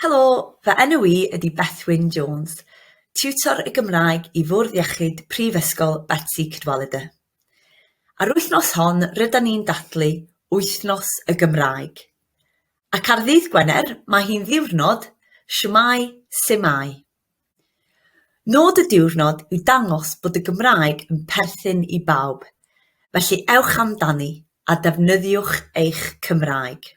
Helo, fy enw i ydy Bethwyn Jones, Tiwtor y Gymraeg i Fwrdd Iechyd Prifysgol Betsi Cadwaladr. A'r wythnos hon rydan ni'n dathlu Wythnos y Gymraeg. Ac ar ddydd Gwener mae hi'n ddiwrnod Shwmae Sumae. Nod y diwrnod yw dangos bod y Gymraeg yn perthyn i bawb, felly ewch amdani a defnyddiwch eich Cymraeg.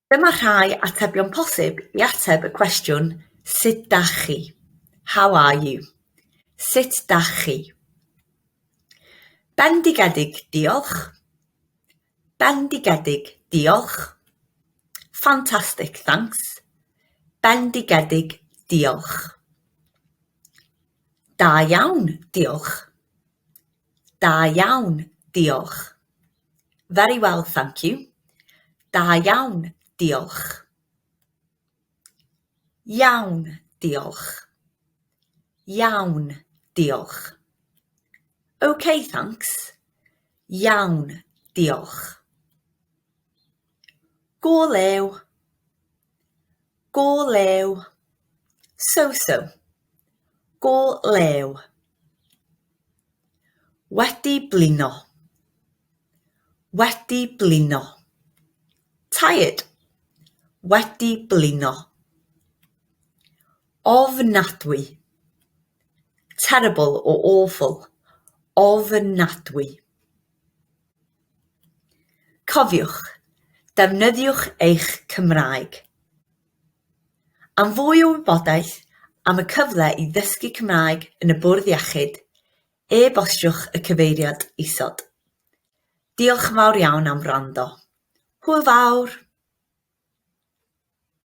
Dyma rhai atebion posib i ateb y cwestiwn Sut dach chi? How are you? Sut dach chi? Bendigedig, diolch. Bendigedig, diolch. Fantastic, thanks. Bendigedig, diolch. Da iawn, diolch. Da iawn, diolch. Very well, thank you. Da iawn, diolch. Iawn, diolch. Iawn, diolch. Ok, thanks. Iawn, diolch. Gall eu Gall eu So so Gall eu Wedi blino Wedi blino Tired Wedi blino Ofnadwy Terrible or awful Ofnadwy Cofiwch, defnyddiwch eich Cymraeg. Am fwy o wybodaeth am y cyfle i ddysgu Cymraeg yn y Bwrdd Iechyd, e-bostiwch y cyfeiriad isod. Diolch yn fawr iawn am wrando. Hwyl fawr!